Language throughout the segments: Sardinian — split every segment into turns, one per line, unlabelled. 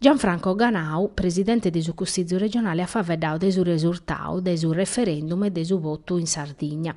Gianfranco Ganau, presidente de su Cussizu regionale at faveddau de su resurtau de su referendum e de su botu in Sardigna.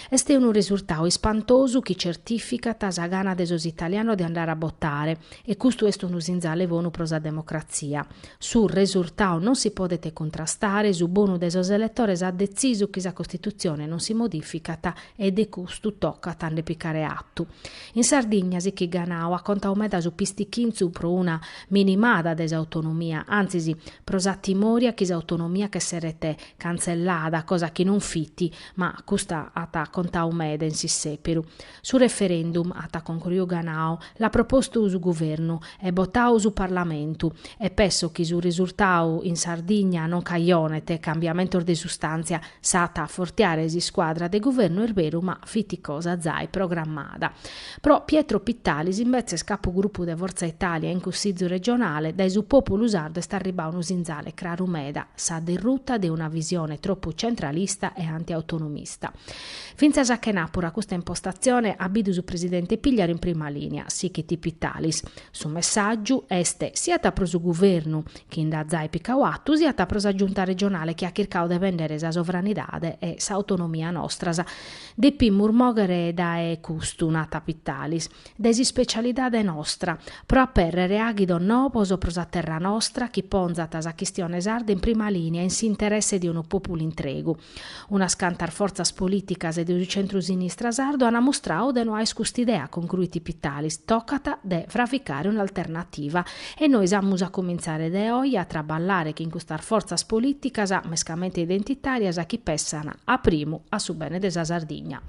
Est unu resurtau ispantosu chi certificat sa gana de sos italianos de andare a botare e custu est unu sinzale bonu pro sa democratzia. Su resurtau non si podet cuntrastare, su bonu de sos eletores at detzisu chi sa Costitutzione non si modificat e de custu tocat a nde picare atu. In Sardigna sichit Ganau at contau meda su pistichintzu pro una minimada de s'autonomia, antzis pro sa timoria chi s'autonomia ch'esseret cantzellada, cosa chi non fit, ma custa at contau meda in s'issèperu. Su referendum, at concruiu Ganau, l'at propostu su Guvernu, e botau su Parlamentu, e pesso chi su resurtau in Sardigna non cajonet cambiamentos de sustàntzia, s'at a afortiare s'iscuadra de Guvernu est beru ma fit cosa zai programmada. Pro Pietro Pittalis imbetzes capugrupu de Fortza Italia in Cussizu regionale, dae su pòpulu sardu est arribau unu sinzale craru meda, sa derruta de una visione tropu centralista e antiautonomista. Fintzas a chena puru a custa impostatzione at bidu su presidente Pigliaru in prima lìnia, sichit Pittalis. Su messàgiu est siat pro su guvernu, chi nd'at zai picau atu, siat pro sa Giunta regionale chi at chircau de bèndere sa sovranidade e s'autonomia nostras. Depimus mòghere dae custu, nat Pittalis, dae s'ispecialidade nostra, pro apèrrere àghidos nobos pro sa terra nostra chi ponzant sa chistione sarda in prima lìnia in s'interesse de unu pòpulu intregu. Unas cantas fortzas polìticas de su centru-sinistra sardu an mustrau de no àer cust'idea, concruit Pittalis, tocat de fravicare un'alternativa. E nois amus a cumintzare de oje a traballare chin custas fortzas polìticas, mescamente identitàrias, chi pessant a primu a su bene de sa Sardigna.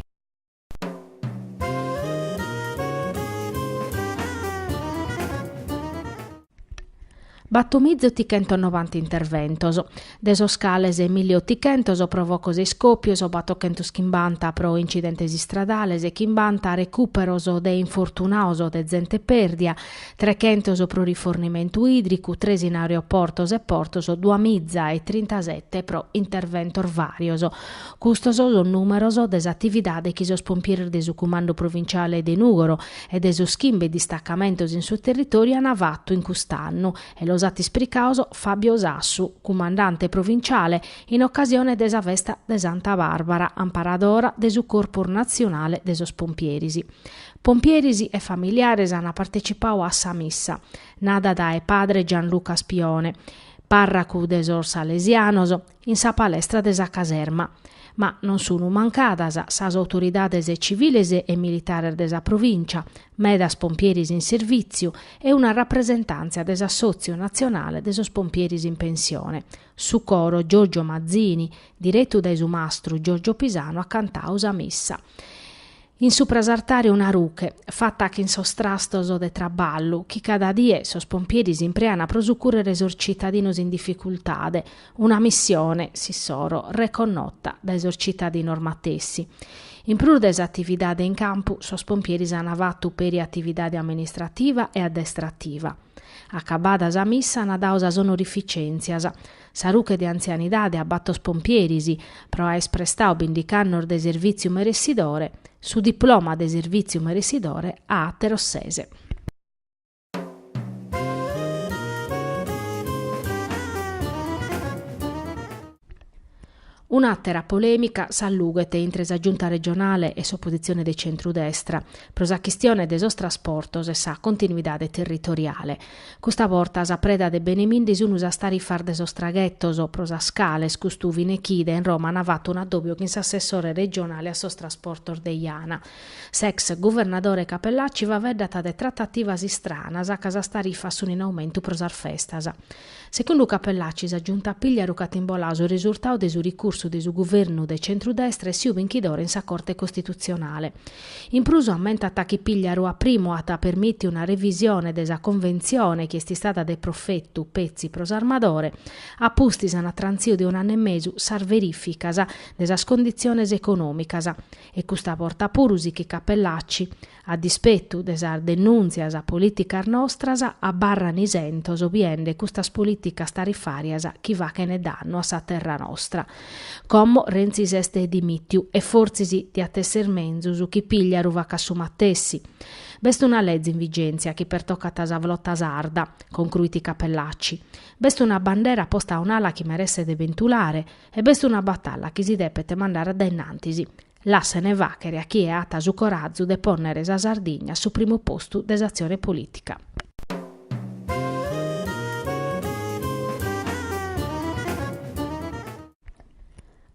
Batormiza otichentos novanta interventos, de sos cales milli otichentos pro focos e iscòpios, batochentos chimbanta pro incidentes istradales, chimbanta recùperos de infortunados o de zente pèrdia, trechentos pro rifornimentu ìdricu, tres in aeroportos e portos, duamiza e trintasete pro interventos vàrios. Custos sunt sos nùmeros de s'atividade chi sos pompieres de su Cumandu Provinciale de Nùgoro e de sos chimbe distacamentos in su territòriu ant fatu in cust'annu e los at ispricaos Fabio Sassu, cumandante provinciale, in ocasione de sa festa de Santa Bàrbara, amparadora de su Corpus Natzionale de sos Pompieres. Pompieres e familiares ant partecipau a sa missa, nada dae padre Gianluca Spione, pàrracu de sos Salesianos, in sa palestra de sa caserma. Ma non sunu mancadas sas autoridades civiles e militares de sa provìncia, medas pompieris in servìtziu e una rapresentàntzia de s'Assòtziu natzionale de sos pompieris in pensione. Su coro Giorgio Mazzini, diretu dae su mastru Giorgio Pisanu, at cantadu sa missa. In supra s'artare una ruche, fata chin sos trastos de traballu, chi cada die sos pompieris impreana pro sucùrrere sos citadinos in dificultade, una missione, s'issoro, reconnota dae sos citadinos matessi. In prus de s'atividade in campu, sos pompieris ana fatu peri atividade amministrativa e addestrativa. Acabada sa missa ana dadu sas onorificèntzias. Sa ruche de antzianidade a bator pompieris, pro aer prestadu bindigh'annos de servìtziu meressidore, su diploma de servìtziu meressidore a àteros ses. Un'àtera polèmica s'allughet intre sa Giunta regionale e s'opositzione de centru-destra pro sa chistione de sos trasportos e sa continuidade territoriale. Custa borta sa preda de benemindi sun sas tarifas de sos traghetos, pro sas cales custu fine chide in Roma an fatu un'addòbio chin s'assessore regionale a sos trasportos de Jana. S'ex guvernadore Cappellacci faeddàt de tratativas istranas ca sas tarifas sun in aumentu pro sas festas. Segundu Cappellacci sa Giunta Pigliaru ch'at imboladu su risurtadu de su ricursu de su guvernu de centrudestra essiu binchidore in sa Corte Costitutzionale. In prus ammentat chi Pigliaru a primu at permìtiu una revisione de sa Conventzione chi est istada de profetu, petzi, pro s'armadore. A pustis ant trantziu de un'annu e mesu sas verìficas de sas conditziones econòmicas. E custa borta puru sighit Cappellacci, A dispetu de sas denùntzias polìticas nostras, abarran isentos biende custas polìticas tarifàrias chi faghent dannu a sa terra nostra. Como Renzi s'est dimìtiu e fortzis diat èssere menzus chi Pigliaru facat su matessi. B'est una leze in vigèntzia chi pertocat sa flota sarda, concruit Cappellacci. B'est una bandera posta a un'ala chi meresset pentulare e b'est una batalla chi si depet mandare a dae innantis, lassene fàghere a chie at su corazu de pònnere sa Sardigna a su primu postu de s'atzione polìtica.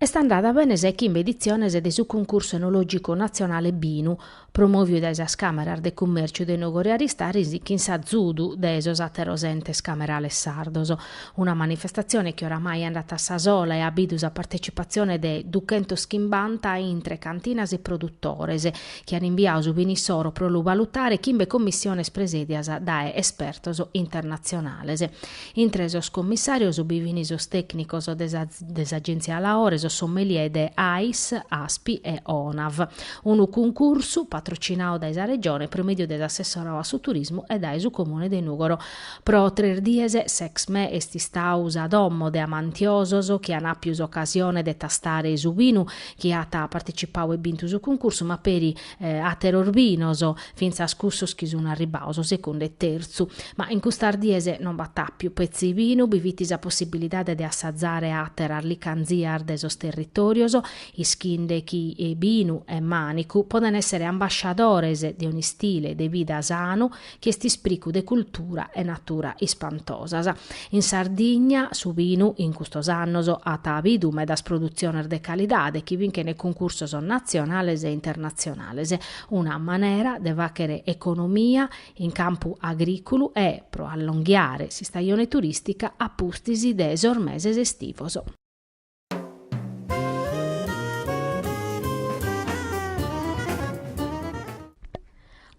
Est andada bene sa chimbe editziones de su Cuncursu Enològicu Natzionale Binu, promòviu dae sas Càmeras de Cummèrciu de Nùgoro e Aristanis chin s'azudu de sos àteros entes camerales sardos. Una manifestatzione chi oramai andat a sa sola e at bidu sa partetzipatzione de duchentos chimbanta intre cantinas e produtores, chi an imbiadu su binu issoro pro lu balutare chimbe commissiones presèdias dae espertos internatzionales. Intre sos commissàrios bi fin sos tècnicos de de s'Agèntzia Laore, sos sommelier de Ais, Aspi e Onav. Unu cuncursu patrocinadu dae sa Regione pro mèdiu de s'Assessorau a su Turismu e dae su Comune de Nùgoro. Pro tres dies s'Exme est istau sa domo de amantiosos chi an àpiu s'ocasione de tastare su binu, chi at partecipau e bintu su cuncursu, ma peri àteros binos, fintzas cussos chi sun arribaos a segundu e tertzu. Ma in custas dies non b'at àpiu petzi binu, bi fit sa possibilidade de assazare àteras licanzias de sos territòrios, ischinde chi binu e mànicu podent èssere ambasciadores de un'istile de vida sanu chi est ispricu de cultura e natura ispantosas. In Sardigna su binu in custos annos at bidu medas produtziones de calidade chi binchent cuncursos natzionales e internatzionales, una manera de fàchere economia in campu agrìculu e pro allonghiare s'istajone turìstica a pustis de sos meses estivos.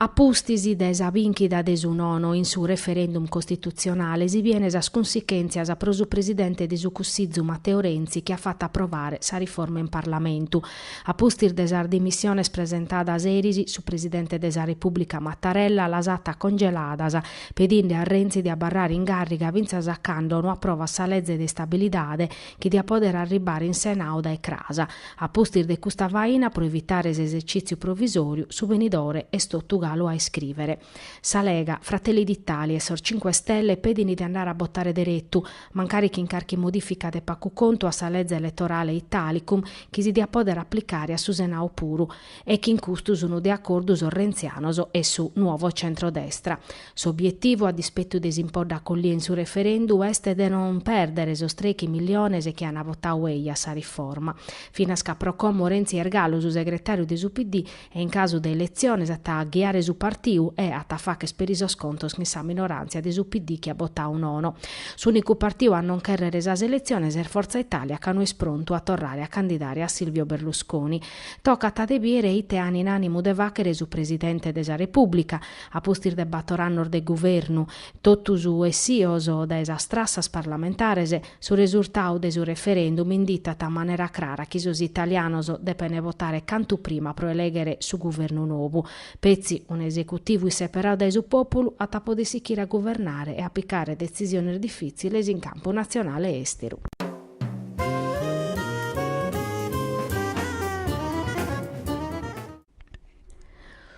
A pustis de sa bìnchida de su nono in su referendum costitutzionale si biene sas cunsichèntzias pro su presidente de su Cussizu Matteo Renzi chi at fatu aprovare sa riforma in Parlamentu. A pustis de sas dimissiones presentadas eris su presidente de sa Repùblica Mattarella las at congeladas pedinde a Renzi de abarrare in gàrriga fintzas a cando no aprovat sa leze de istabilidade chi diat pòdere arribare in Senau dae cras. A pustis de custa faina, pro evitare s'esercìtziu provisòriu, su benidore est totu galu a iscrìvere. Sa Lega, Fratelli d'Italia e sos Cinque Stelle pedint de andare a botare deretu, mancari chin carchi modìfica de pagu contu a sa leze eletorale Italicum, chi si diat pòdere aplicare a su Senau puru, e chin custos sunt de acordu sos rentzianos e su Nuovo Centrodestra. S'obietivu, a dispettu de s'impodda accollia in su referendu, est de non perdere sos trechi milliones chi an botau ei a sa riforma. Finas ca pro como Renzi est galu su segretariu de su PD e in casu de eletziones at a ghiare su partiu e at a facher peri sos contos chin sa minorantzia de su PD chi at botau nono. S'unicu partiu a non cherrere sas eletziones est Forza Italia ca no est prontu a torrare a candidare a Silvio Berlusconi. Tocat de biere ite an in animu de fachere su Presidente de sa Republica, a pustis de bator annos de guvernos totus essios dae sas trassas parlamentares, su resurtau de su referendum inditat a manera crara chi sos italianos depent botare cantu prima pro eleghere su guvernu novu. Petzi un'esecutivu isseperau dae su pòpulu at a poder sichire a guvernare e a picare detzisiones difìtziles in campu natzionale e èsteru.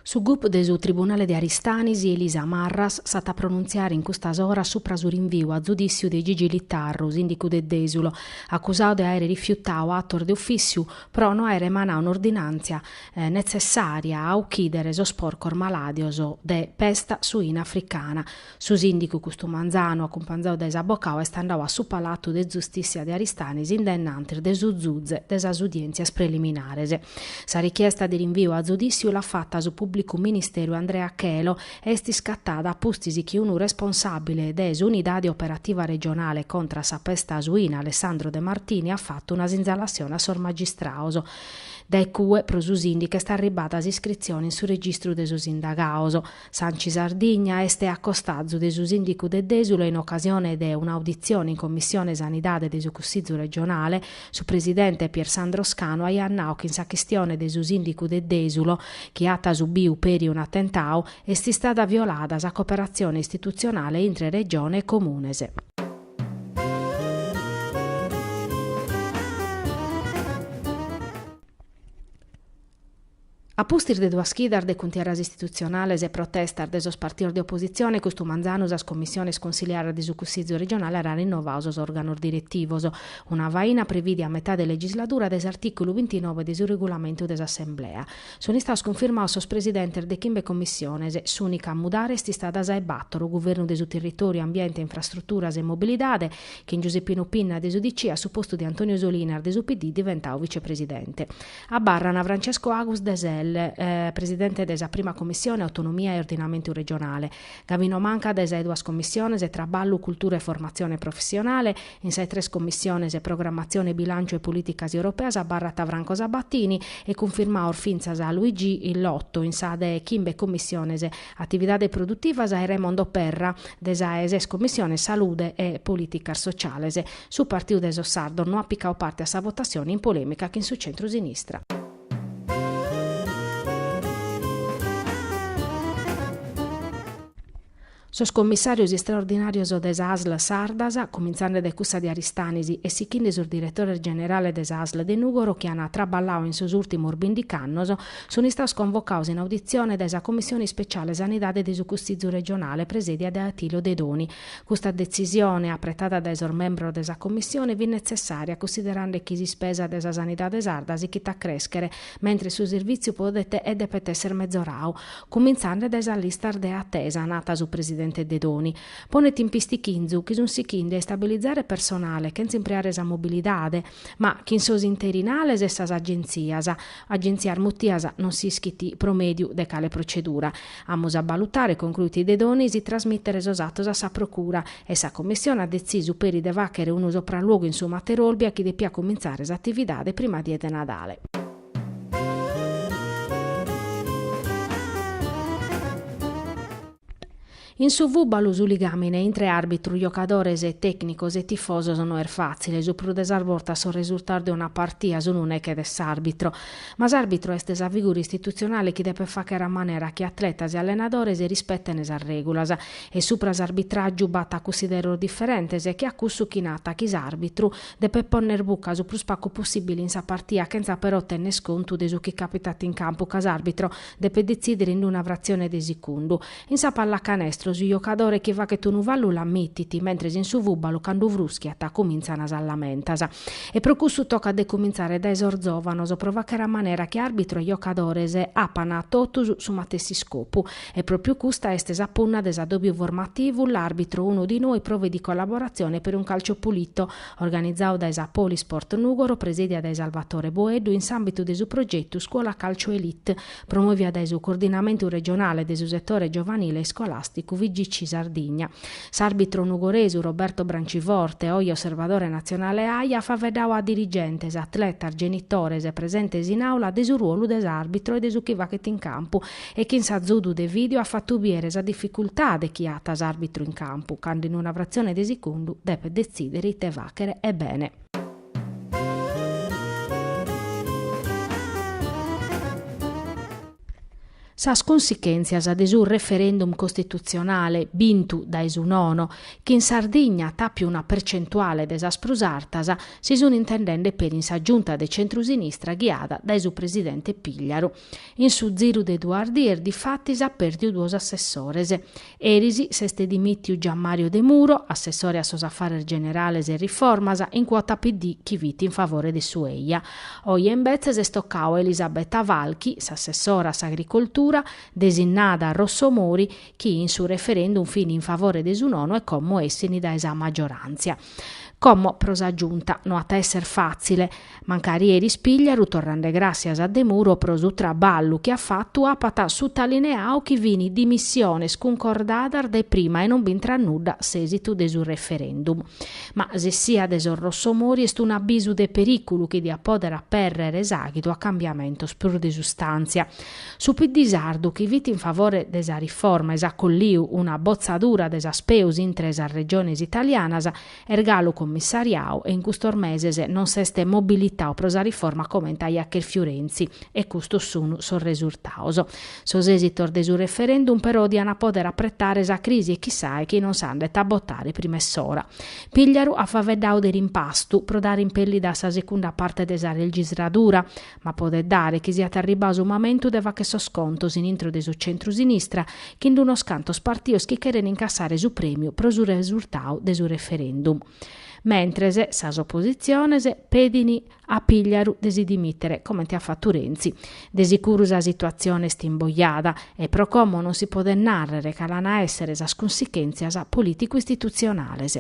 Su gup de su tribunale de Aristanis Elisa Marras s'at a pronuntziare in custas oras supra su rinviu a zudìssiu de Gigi Littarru, sìndicu de Dèsulo, acusadu de àere rifiutadu atos de ufìssiu pro no àere emanadu un'ordinàntzia netzessària a ochìdere sos porcos malàdios de pesta suina africana. Su sìndicu custu manzanu, acumpanzau dae s'abocau, est andau a su Palatu de Zustissia de Aristanis in dennantis de su zuze de sas udièntzias preliminares. Sa richiesta de rinviu a zudìssiu l'at fata su pùblicu ministeru Andrea Chelo e est iscatada pustis chi unu responsàbile de s'Unidade Operativa Regionale contra sa Pesta Suina Alessandro De Martini at fatu una sinzalassione a sos magistrados dae cue pro su sìndicu est arribada s'iscritzione in su registru de sos indagados. S'Anci Sardigna est a costazu de su sìndicu de Dèsulo e in ocasione de un'auditzione in Commissione Sanidade de su Cussizu regionale, su presidente Pier Sandro Scano aiat nau chi in sa chistione de su sìndicu de Dèsulo, chi at subiu peri un'atentau, est istada violada sa cooperatzione istitutzionale intre Regione e Comunes. A pustis de duas chidas de cuntierras istitutzionales e protestas de sos partidos de opositzione, custu manzanu sas commissiones cunsiliares de su Cussizu regionale ant rinnovadu sos òrganos diretivos, una faina prevìdia a metà de legisladura dae s'artìculu bintinove de su regulamentu de s'Assemblea. Sunt istados cunfirmados sos presidentes de chimbe commissiones, s'ùnica a mudare est istada sa 'e bàtoro, Guvernu de su Territòriu, Ambiente, Infrastruturas e Mobilidade, chin Giuseppino Pinna de s'UDC a su postu de Antonio Solinas de su PD diventadu vicepresidente. Abarrant Francesco Agus de Sel, presidente de sa prima commissione Autonomia e Ordinamentu Regionale, Gavino Manca de sa 'e duas commissiones Traballu, Cultura e Formatzione Professionale, in sa 'e tres commissiones Programmatzione, Bilànciu e Polìticas Europeas abarrat Franco Sabatini e cunfirmados fintzas Luigi Lotto, in sa de chimbe commissiones Atividades Produtivas e Raimondo Perra de sa 'e ses commissiones Salude e Polìticas Sociales. Su Partiu de sos Sardos no at picadu parte a sa votatzione in polemica chin su centru-sinistra. Sos commissarios istraordinarios de sas Asl sardas, comintzande de cussa de Aristanis e sichinde sos diretores generales de s'Asl de Nùgoro chi an traballadu in sos ùrtimos bindic'annos, sun istados convocados in auditzione dae sa Commissione ispeciale Sanidade de su Cussizu regionale presèdia dae Attilio Dedoni, Custa detzisione, apretada dae sos membros de sa Commissione, fit netzessària cussiderande chi s'ispesa de sa sanidade sarda sighit a crèschere, mentres su servìtziu podet e depet èssere mezoradu, cumintzande dae sas listas de atesa, nat su presidente Dedoni. Ponet in pistìchinzu chi sunt sichinde a istabilizare personale chentza impreare sa mobilidade, ma chin sos interinales e sas agentzias, agentzias mutias non s'ischit pro mèdiu de cale procedura. Amus a balutare, concruit Dedoni, si trasmìtere sos atos a sa Procura, e sa Commissione at detzisu peri de fàghere unu sopralluogu in su Mater Olbia chi depiat comintzare s'atividade prima die de Nadale. In su fùbalu su ligàmine intre àrbitru, giocadores, tècnicos e tifosos no est fàtzile, su prus de sas bortas sos resurtados de una partia sunt neche de s'àrbitru. Ma s'àrbitru est sa figura istitutzionale chi depet fàghere a manera chi atletas e allenadores rispeten sas règulas e subra s'arbitràgiu b'at a cussideros diferentes che a cussu chi nat chi s'àrbitru depet ponner buca su prus pagu possìbile in sa partia chentza però tenner contu de su chi càpitat in campu ca s'àrbitro depet detzìdere in una fratzione de secundu In sa pallacanestro su jocadore chi faghet unu fallu l'ammitit, mentres in su fùbalu cando frùschiat cumintzan sas lamentas. E pro cussu tocat de cumintzare dae sos zòvanos pro fagher a manera chi àrbitru e jocadores apan totus su matessi iscopu. E pròpiu custa est sa punna de s'adòbiu formativu, l'arbitro uno di noi prove di collaborazione per un calcio pulito, organizadu dae sa Polisport Nùgoro presìdia dae Salvatore Boeddu in s'àmbitu de su progetu Scuola Calcio Elite, promòviu dae su Coordinamentu Regionale de su Setore Giovanile Iscolàsticu Figc Sardigna. S'àrbitru nugoresu Roberto Branciforte, oje osservadore natzionale at faeddadu a dirigentes, atletas, genitores e presentes in àula de su ruolu de s'àrbitru e de su chi faghet in campu e chin s'azudu de vìdeo at fatu bìdere sa dificultade chi at s'àrbitru in campu cando in una fratzione de segundu depet detzìdere ite fàghere e bene. Sas cunsichèntzias de su referendum costitutzionale bintu dae su nono, chi in Sardigna at àpiu una percentuale de sas prus artas, si sunt intendende peri in sa Giunta de centrusinistra ghiada dae su presidente Pigliaru. In su ziru de duas dies difatis at pèrdiu duos assessores. Eris s'est dimìtiu Gianmario Demuro, assessore a sos afares generales e riformas, in cuota PD chi fit in favore de su eja. Oje imbetzes est tocadu a Elisabetta Falchi, s'assessora a s'agricoltura, desinnada dae Rossomori, chi in su referendum fin in favore de su nono e como essin dae sa maggioràntzia. Como pro sa Giunta no at a esser fàtzile, mancari eris Pigliaru torrende gràssias a Demuro pro su traballu chi at fatu apat sutalineadu chi fin dimissiones cuncordadas dae prima e non b'intrat nudda s'èsitu de su referendum. Ma s'essia de sos rossomori est un'abisu de perìculu chi diat pòdere apèrrere s'àghidu a cambiamentos prus de sustàntzia. Su PD sardu chi fit in favore de sa riforma e s'acolliu una botzadura de sas peus intre sas regiones italianas est galu cummissariau e in custos meses non s'est mobilitau pro sa riforma comente aiat cherfiu Renzi e custos sunu sos resurtaos. Sos esitos de su referendum però diant a poder apretare sa crisi e chissae chi non s'andet a botare prima 'e s'ora. Pigliaru at faveddau de rimpastu pro dare impellida a sa secunda parte de sa legisladura Ma podet dare chi siat arribau su mamentu de fagher sos contos in intro de su centru-sinistra chin unos cantos partios chi cheren incassare su prèmiu pro su resurtau de su referendum. Mentres, sas opositziones pedin a Pigliaru de si dimìtere, comente at fatu Renzi. De sicuru sa situatzione est imbojada e pro como non si podet nàrrere cale an a èssere sas cunsichèntzias polìticu-istitutzionales.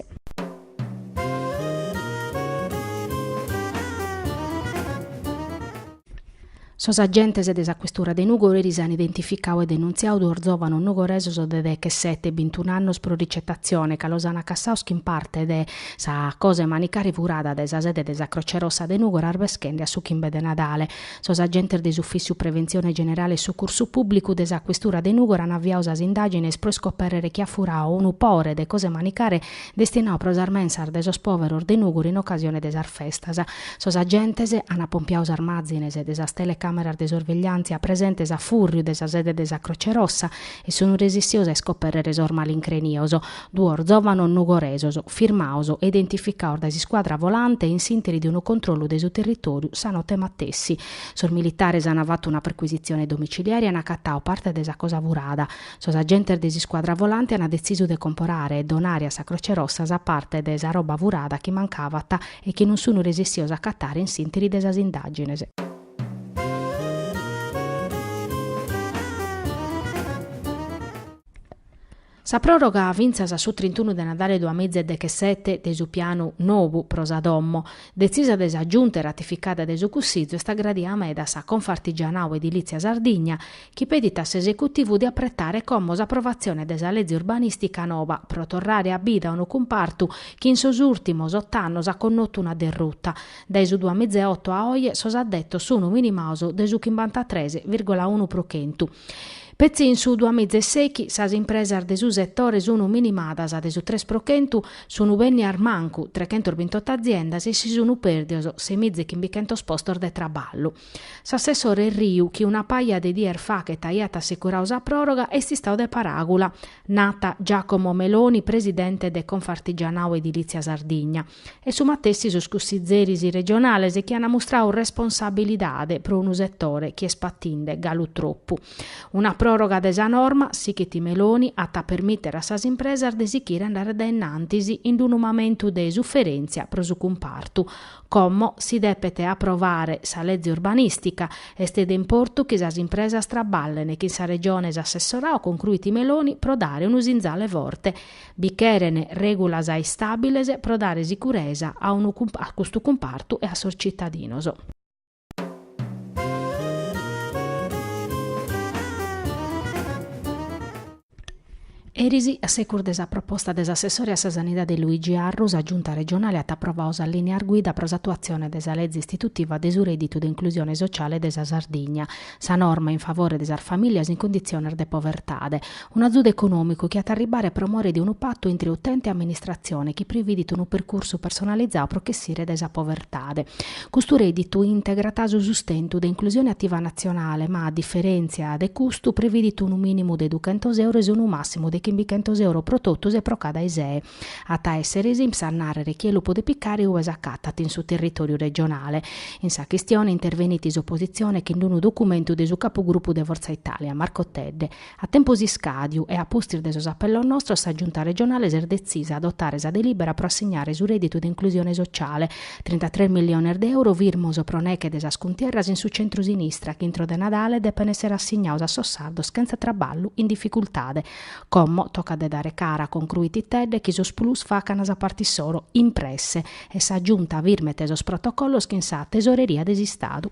Sos agentes de sa questura de Nùgoro eris an identificadu e denuntziadu duos zòvanos nugoresos de dechesete e bintun'annos pro ricetatzione ca los an acassados chin parte de sa cosa 'e manicare furada de sa sede de sa Croce Rossa de Nùgoro arbeschende a su chimbe de Nadale. Sos agentes de s'Ufìssiu Preventzione Generale e Sucursu Pùblicu de sa questura de Nùgoro an aviadu sas indàgines pro iscopèrrere chi at furadu unu pore de cosa 'e manicare destinaos pro sas mensas de sos pòveros de Nùgoro in ocasione de sas festas. Sos agentes an apompiau sas màzines de sas telecàmeras de sorvegliàntzia presentes a fùrriu de sa sede de sa Croce Rossa e sunt resistios a iscopèrrere sos malincrenios, duos zòvanos nugoresos, firmados e identificados dae s'iscuadra volante in s'ìnteri de unu controllu de su territòriu sa note matessi. Sos militares an fatu una percuisitzione domiciliare e an acatadu parte de sa cosa furada, Sos agentes de s'iscuadra volante an detzisu de comporare e donare a sa Croce Rossa sa parte de sa roba furada chi mancavat e chi non sun resistidos a acatare in s'interi de sas indagines. Sa proroga fintzas a su trintunu de Nadale duas miza e dechesete de su pianu nou pro sa domo, detzisa de sa Giunta e ratificada de su Cussizu, est agradia meda a sa Confartigianau Edilizia Sardigna chi pedit a s'esecutivu de apretare como s'aprovatzione de sa leze urbanìstica noba pro torrare a bida unu cumpartu chi in sos ùrtimos ot'annos at connotu una derruta. Dae su duas miza e oto a oe sos addetos sun minimados de su chimbantatres vìrgula unu pro chentu. Petzi in su duas miza e sèighi sas impresas de su setore sun minimadas de su tres pro chentu, sun bennidas mancu trechentos bintot'aziendas e si sun pèrdidos sei miza e chimbichentos postos de traballu. S'assessore Riu, chi una paja de dies faghet aiat assicuradu sa pròroga, est istadu de paràgula, nat Giacomo Meloni, presidente de Confartigianato Edilizia Sardigna, e su matessi sos cussizeris regionales chi ant mustradu responsabilidade pro unu setore chi est patinde galu tropu. Una pròroga de sa norma, sighit Meloni, at a permìtere a sas impresas de sighire a andare a dae in antis in unu mamentu de suferèntzia pro su cumpartu, Como si depet aprovare sa lege urbanìstica, est de importu chi sas impresas trabballen chin sa Regione, s'assessoradu, concruit Meloni pro dare unu sinzale forte. Bi cheren règulas istàbiles pro dare sicuresa a custu cumpartu e a sos tzitadinos. Eris, a segus de sa proposta de s'assessore a sa Sanidade Luigi Arru, sa Giunta regionale at aprovadu sas lìnias guida pro s'atuatzione de sa Lege istitutiva de su Rèdditu de Inclusione Sociale de sa Sardigna, sa norma in favore de sas famìlias in conditziones de povertade, un'azudu econòmicu chi at a arribare pro more de unu patu intre utente e amministratzione chi prividit unu percursu personalizadu pro ch'essire dae sa povertade. Custu rèdditu integrat su sustentu de Inclusione Attiva Natzionale ma, a diferèntzia de custu, prividit unu mìnimu de duchentos euro e unu màssimu de chimbichentos euro pro totus e pro cada ISEE. At a èssere s'INPS a nàrrere chie lu podet picare ue s'acatat in su territòriu regionale. In sa chistione intervenit s'opositzione chin unu documentu de su capugrupu de Fortza Italia, Marco Tedde. A tempus iscàdiu e a pustis de sos apellos nostros sa Giunta regionale s'est detzisa a adotare sa delìbera pro assignare su rèditu de inclusione sociale, trintatres milliones de euro firmos pro neghe de sas cuntierras in su centru-sinistra chi intro de Nadale depen èssere assignados a sos sardos chentza traballu in dificultade. Como tocat de dare cara concruit Tedde chi sos PLUS facan sa parte issoro in presse e sa Giunta firmet sos protocollos chin sa Tesoreria de s'Istadu.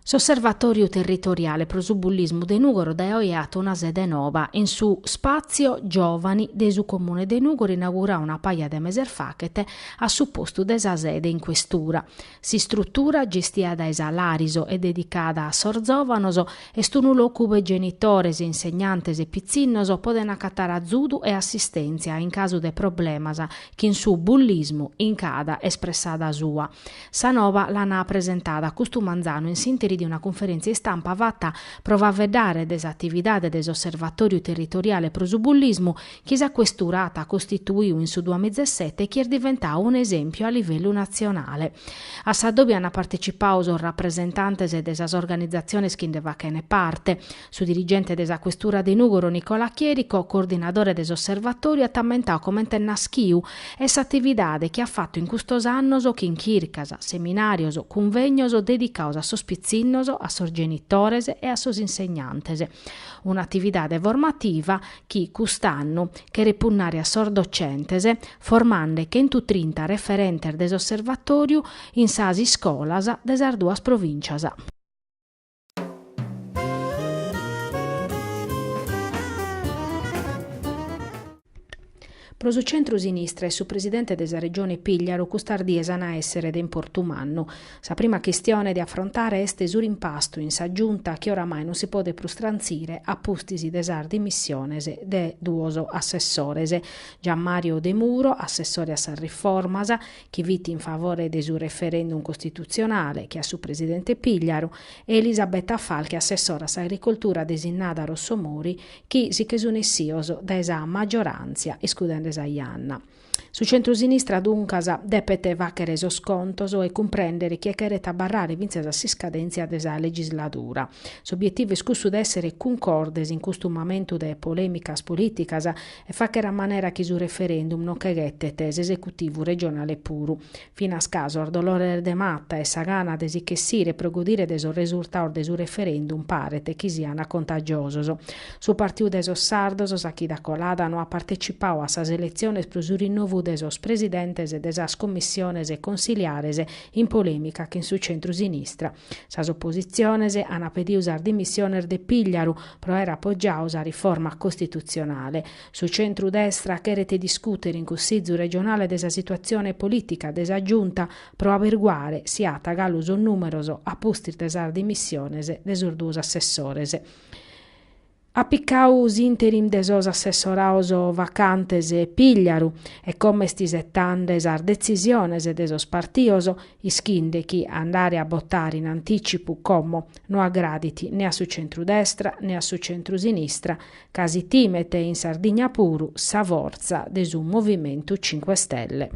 S'Osservatòriu Territoriale pro su Bullismu de Nùgoro dae oe at una sede nova, in su Spazio Giòvani de su Comune de Nùgoro inauguradu una paja de meses faghet a su postu de sa sede in questura. S'istrutura, gestia dae sa Lariso e dedicada a sos zòvanos, est unu locu ue genitores, insegnantes e pitzinnos podent acatare azudu e assistèntzia in casu de problemas chin su bullismu in cada espressada sua. Sa nova l'an presentada custu manzanu in s'interi de una cunferèntzia istampa fata pro faeddare de s'atividade de s'Osservatòriu Territoriale pro su Bullismu chi sa Questura at costituiu in su duamizesete e chi est diventau un'esèmpiu a livellu natzionale. A s'adòbiu ant partecipau sos rapresentantes de sas organizatziones chi nde fachent parte. Su dirigente de sa Questura de Nùgoro Nicola Chierico, coordinadore de s'Osservatòriu, at ammentau comente est naschiu e s'atividade chi at fatu in custos annos chin chircas, seminàrios, cunvègnos dedicados a sos pitzinnos, a sos genitores e a sos insegnantes. Un'atividade formativa chi, cust'annu, cheret punnare a sos docentes, formande chentutrinta referentes de s'Osservatòriu in sas iscolas de sas duas provìncias. Pro su centru-sinistra e su presidente de sa Regione Pìgliaru custas dies an a èssere de importu mannu. Sa prima chistione de afrontare est su rimpastu in sa Giunta chi oramai non si podet prus trantzire a pustis de sas dimissiones de duos assessores, Gianmario Demuro, assessore a sas riformas, chi fit in favore de su referendum costitutzionale, che a su presidente Pìgliaru, e Elisabetta Falchi, assessora a s'agricoltura desinnada dae Rossomori, chi si che sun essios dae sa maggioràntzia iscudende sa janna. Su centrosinistra duncas depet fàghere sos contos e cumprèndere chie cheret abarrare fintzas a s'iscadèntzia de sa legisladura. S'obietivu est cussu de èssere cuncordes in custu mamentu de polèmicas polìticas e fàghere a manera chi su referendum non che ghetet s'esecutivu regionale puru. finas ca sos dolores de mata e sa gana de si nch'essire pro godire de sos resurtados de su referendum paret chi siana contagiosos. Su Partidu de sos Sardos, sa chida colada, no at partecipadu a sas eletziones pro su rinnovu de sos presidentes de sas commissiones consiliares in polemica chin su centru-sinistra. Sas oppositziones ana pedidu sas dimissiones de Pigliaru pro aer appoggiadu sa riforma costitutzionale. Su centru-destra cheret discùtere in Cussìgiu regionale de sa situatzione polìtica de sa Giunta pro aberguare si at galu sos nùmeros a pustis de sas dimissiones de sos duos assessores. At picadu s'interim de sos assessorados vacantes Pìgliaru e como est isetande sas detzisiones de sos partidos ischinde chi andare a botare in antìcipu como no agradit ne a su centru-destra ne a su centru-sinistra ca si timet in Sardigna puru sa fortza de su Movimentu Cinque Stelle.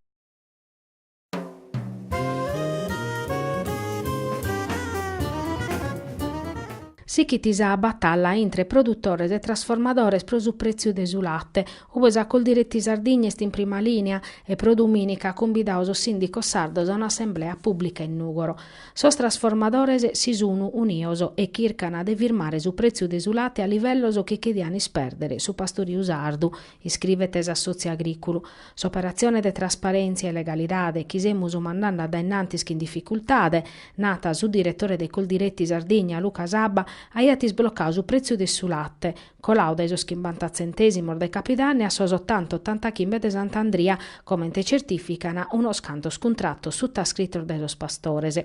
Sichit sa batalla intre produtores e trasformadores pro su prètziu de su late, ue sa Coldiretti Sardigna est in prima lìnia e pro dumìnica at cumbidadu sos sìndicos sardos a un'assemblea pùblica in Nùgoro. Sos trasformadores si sun unidos e chircan de firmare su pretziu de su late a livellos chi chedian isperdere su pastoriu sardu, iscrivet s'assotziu agriculu. S'operatzione de trasparentzia e legalidade chi semus mandande a dae innantis chin dificultade, nat su diretore de Coldiretti Sardigna Luca Sabba, aiat isblocadu su pretziu de su late, Colau dae sos chimbanta tzentèsimos de Capidanni a sos otanta, ottantachimbe de Sant'Andria, comente certìfican unos cantos cuntratos sutascritos dae sos pastores.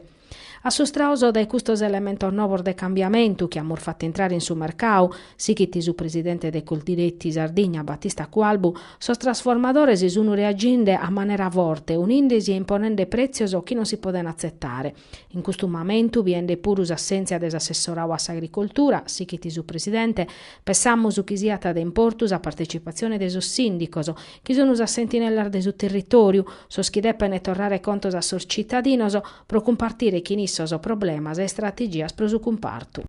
Assustrados dae custos elementos novos de cambiamentu chi amus fatu intrare in su mercadu, sighit su presidente de Coldiretti Sardigna Battista Cualbu, sos trasformadores sunt reaginde a manera forte, uninde-si e imponende prètzios chi non si podent atzetare. In custu mamentu, biende puru s'assèntzia de s'assessorau a s'agricoltura, sighit su presidente, pensamus chi siat de importu sa partetzipatzione de sos sìndicos, chi sun sas sentinellas de su territòriu, sos chi depent torrare contos a sos tzitadinos pro cumpartire chin issos problemas e istrategias pro su cumpartu.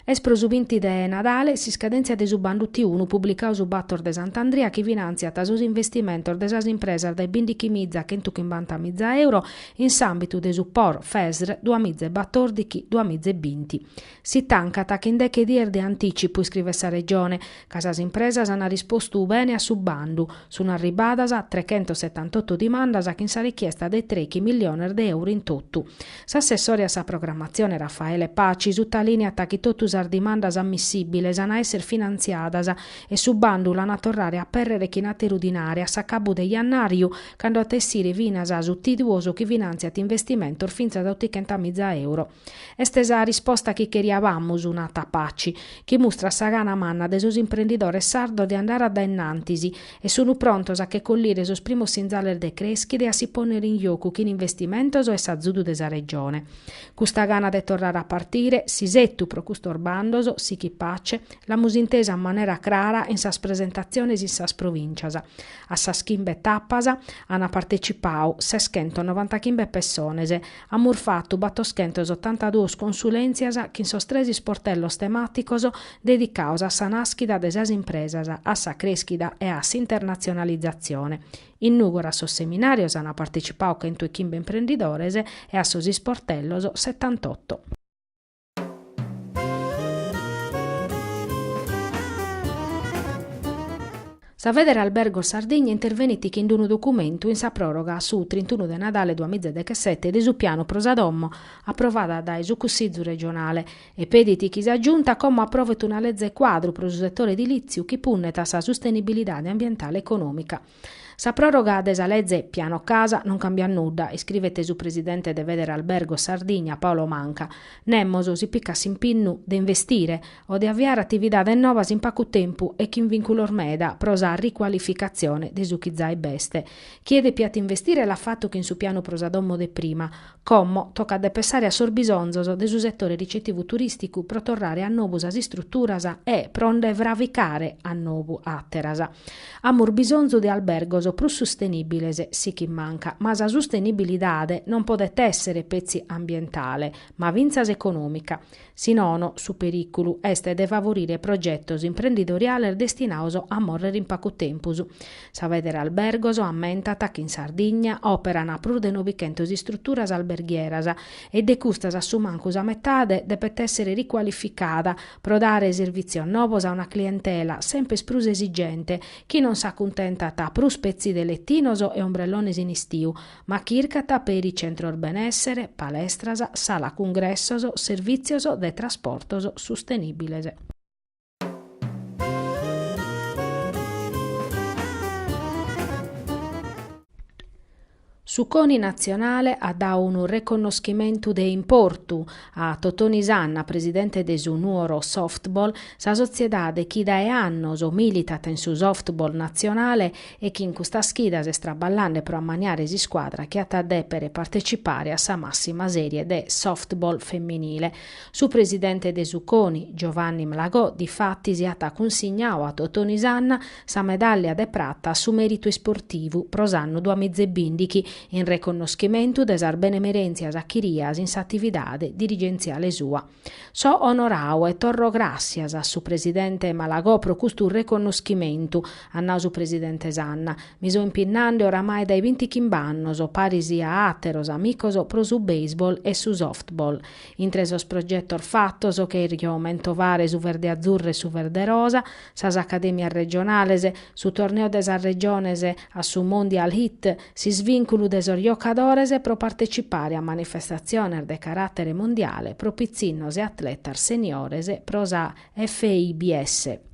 Est pro su binti de Nadale s'iscadèntzia de su bandu T-unu publicadu su Bator de Sant'Andria chi finantziat sos investimentos de sas impresas dae bindighimiza a chentu chimbanta miza euro in s'àmbitu de su Por, Fesr, duamiza e batòrdighi, duamiza e binti. Si tancat chin deche dies de antìcipu, iscrivet sa Regione, ca sas impresas ant rispostu bene a su bandu. Sunt arribbadas trechentos setantotto dimandas chin sa richiesta de trechi milliones de euru in totu. S'assessore a sa programmatzione Raffaele Paci sutalìniat chi totu sas dimandas ammissìbiles ant a èssere finantziadas e su bandu l'ant a torrare a apèrrere chin àteru dinare a s'acabu de jannàriu, cando at a essire finas su T-Duos chi finantziat investimentos fintzas a otichentamìza euro. Est sa risposta chi cheriabamus, nat Paci, chi mustrat sa gana manna de sos imprendidores sardos de andare a dae innantis e sunt prontos a che collire sos primos sinzales de creschida e a si pònere in jocu chin investimentos e s'azudu de sa Regione. Custa gana de torrare a partire, s'isetu pro custos bandos, sichit Paci, l'amus intesa a manera crara in sas presentatziones in sas provìncias. A sas chimbe tapas ant partecipadu seschentos novantachimbe pessones, Amus fatu battoschentosottantaduos consulèntzias chin sos tres isportellos temàticos dedicados a sa nàschida de sas impresas, a sa crèschida e a s'internatzionalizatzione. In Nùgoro a sos seminàrios ant partetzipadu chentu e chimbe imprendidores e a sos isportellos setantotto. Sa Federalberghi Sardigna intervenit chin d-unu documentu in sa pròroga a su trintunu de Nadale duas miza e dechesete de su pianu pro sa domo aprovada dae su Cussizu regionale e pedit chi sa Giunta como aprovet una leze cuadru pro su setore edilìtziu chi punnet a sa sustenibilidade ambientale e econòmica. Sa pròroga de sa leze Piano Casa non cambiat nudda, iscrivet su presidente de Federalberghi Sardigna Paolo Manca. Nemos si picat s'impinnu de investire o de aviare atividades novas in pagu tempu e chin vìnculos meda pro sa ricualificatzione de su chi zai b'est. Chie depiat investire l'at fatu chin su pianu pro sa domo de prima, Como tocat de pensare a sos bisonzos de su setore ricetivu turìsticu pro torrare a nobu sas istruturas e pro nde fraficare a nobu àteras. Amus bisonzu de albergos prus sustenìbiles, sighit Manca, ma sa sustenibilidade non podet èssere petzi ambientale, ma fintzas econòmica. Si nono, su perìculu est de favorire progetos imprendidoriales destinados a morrer in pagu tempus. Sa Federalberghi ammentat chi in Sardigna òperan prus de nobichentos istruturas alberghieras e de custas a su mancu sa metade depet èssere ricualificada pro dare servìtzios novos a una clientela semper prus esigente chi non s'acuntentat prus petzi de letinos e ombrellones in istiu ma chircat peri centros benèssere, palestras, sala cungressos, servìtzios de trasportos sustenìbiles. Su CONI natzionale at dadu unu reconnoschimentu de importu a Totoni Sanna, presidente de su Nuoro Softball, sa sotziedade chi dae annos militat in su softball natzionale e chi in custas chidas est traballende pro ammaniare s'iscuadra chi at a dèpere partecipare a sa màssima sèrie de softball feminile. Su presidente de su CONI, Giovanni Malagò, difatis at cunsignadu a Totoni Sanna sa medàllia de prata a su mèritu isportivu pro s'annu duamiza e bìndighi, in reconnoschimentu de sas benemerèntzias achirias in s'atividade dirigentziale sua. So onorau e torro gràssias a su presidente Malagò pro custu reconnoschimentu, at nau su presidente Sanna. Mi so impinnande oramai dae bintichimb'annos, paris a àteros amicos, pro su baseball e su softball. Intre sos progetos fatos cherjo mentovare su Verdeazzurro e su Verderosa, sas acadèmias regionales, su torneo de sas regiones a su Mondial Hit, S'isvìnculu de sos giocadores pro partecipare a manifestatziones de caràtere mundiale pro pitzinnos e atletas seniores pro sa FIBS.